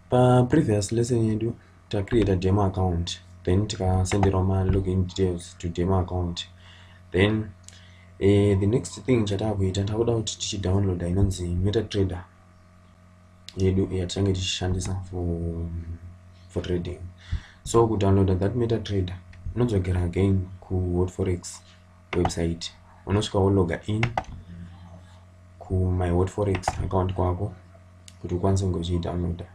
paprevious lesson yedu tacreata demo account then tikasenderwa malogin details to demo account then uh, the next thing chataakuita takuda kuti tichidownloada inonzi metatrader yedu yatichange tichishandisa for, for trading so kudownloada that metatrader unodzokera again kuhotforex website unosvika wologa in kumyhot forex account kwako kuti ukwanise kunge uchiidownloada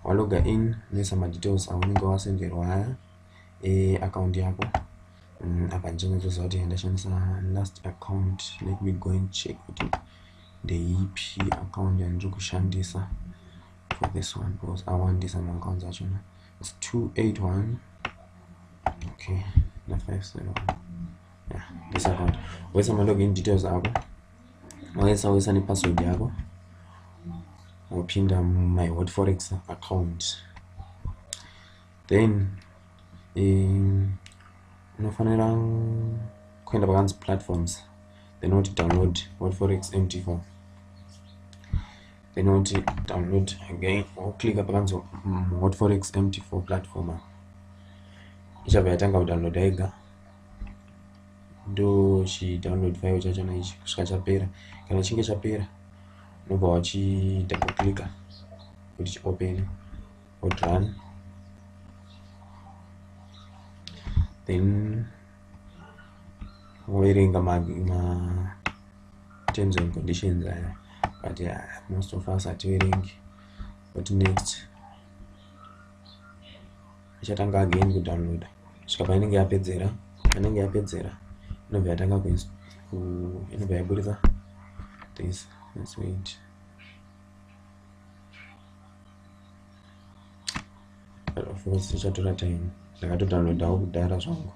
waloga in unoisa madetails aunenge wasenderwa aya eaccount yako mm, apa ndichinatsoziva kuti ndashandisa last account let me go and check kuti ndeipi account yandiri kushandisa for this one because awandisa maaccounts achona it's 281 okay na 571 yeah this account wesa ma login details ako wesa wesa ne password yako wopinda my hot forex account then um, unofanira kuenda pakanzi platforms then woti download hot forex mt4 then unoti download again woclicka pakanzi mm, hot forex mt4 platform ichabva yatanga kudownloada yega ndochidownload file chachona ichi kusvika chapera kana chinge chapera unobva wachidouble clicka kuti chiopene hot run then woverenga ma, ma terms and conditions aya but uh, most of us hativerengi what next ichatanga again kudownloada svika painenge yapedzera anenge yapedzera inobva yatanga inobva yaburitsa this this wait of course zvichatora time ndakatodownloadawo kudhara zvangu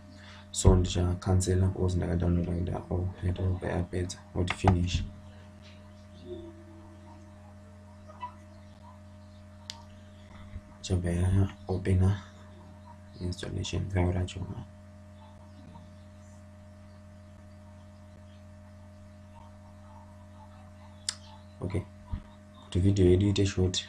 so ndichacancela course ndakadownloada kuda o oh, yatobva yapedza oti finish chabva yaopena installation file racho okay kuti video yedu ite short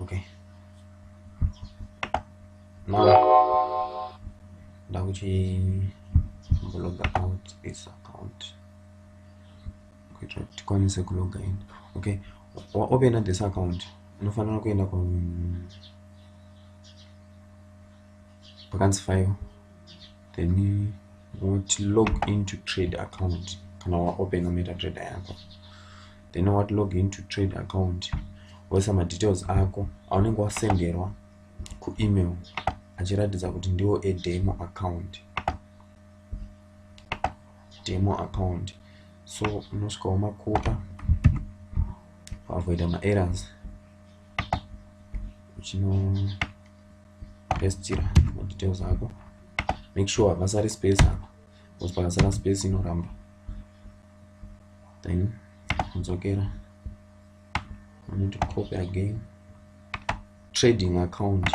okay now ndakuti log out this account kuitira kuti tikwanise kuloga in okay waopena this account unofanira kuenda ku pakanzi file then what log into trade account kana waopena metatrader yako then what log into trade account woisa madetails ako aunenge wasenderwa kuemail achiratidza kuti ndiwo edemo account demo account so unosvika wamakupa wakuita maerrors uchino pestira madetails ako make sure hapasari space apa bcause pakasara space inoramba then kudzokera anoto copy again trading account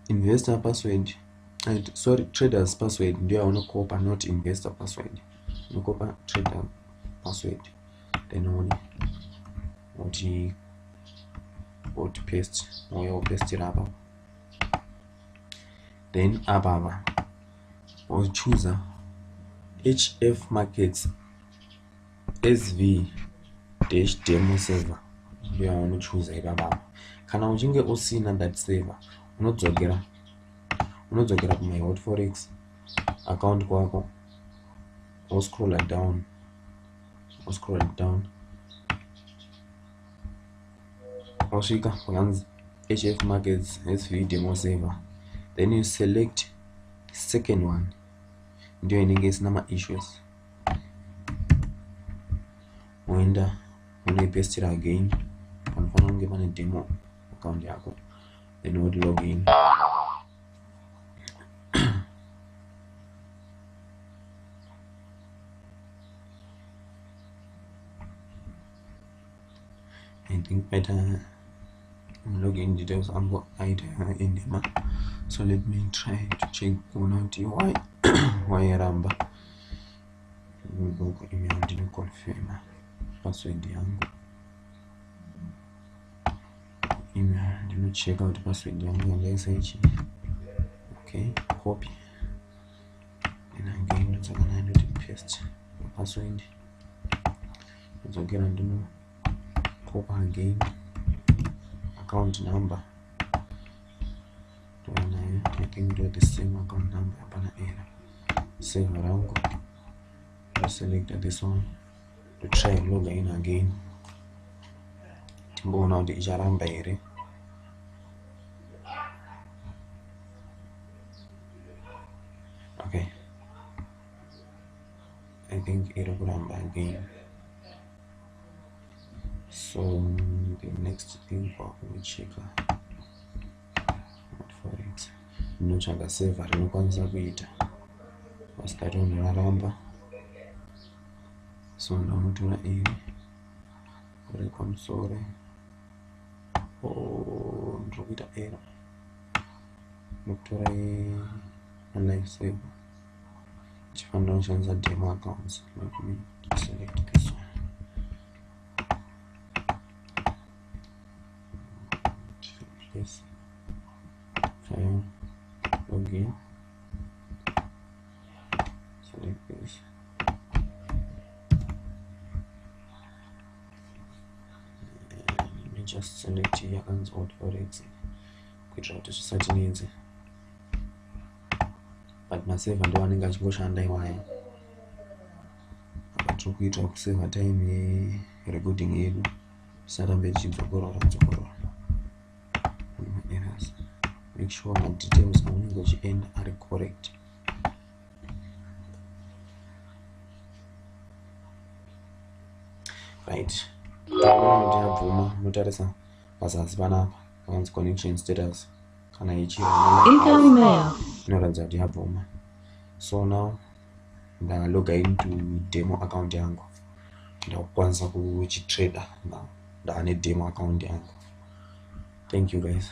investor password and sorry traders password ndiyo aunokopa not investor password unokopa trader password then one oti oti paste mouya wopestira apa then apa apa wochuza hf markets sv dash demo server ndoya unochuza ipapa apa kana uchinge usina that server unodzokera unodzokera kumai hot forex account kwako woscrolla down I'll scroll it down wasvika wakanzi hf markets svv demo saver then you select second one ndiyo inenge isina maissues woenda unoipestira again panofanira kunge pane demo account yako then woti login I think better login details angu aita endema so let me try to check kuona kuti why why yaramba gogo email ndinoconfirma password yangu email ndinocheka kuti password yangu yandaisa ichi okay copy password ndodzokera ndino copy again account number tova nayo i think ndo the same account number hapana era save rangu ndoselecta this one to try log in again timboona kuti icharamba here okay i think iri kuramba again so the next thing kwakucheka forex ndinotsvaga seva rinokwanisa kuita vasikato ndaramba so ndamutora iri uri pamusoro oh, ndiri kuita error ndokutora life saver chifanira kushandisa demo accounts let me select this one yes file login select this just select yakanzi auto exit kuitira kuti zvisatinetse but maseva ndo anenge achingoshanda iwayo apa tiri kuita kuseva time yerecording yedu tisarambe tichidzokorora dzokorora maerrors make sure madetails aunenge uchienda ari correct right ndiyabvuma unotarisa pazasi panapa hanzi connection status kana ichiinoratidza kuti yabvuma so now ndaloga into demo account yangu ndakukwanisa kuchitrader now ndava nedemo account yangu thank you guys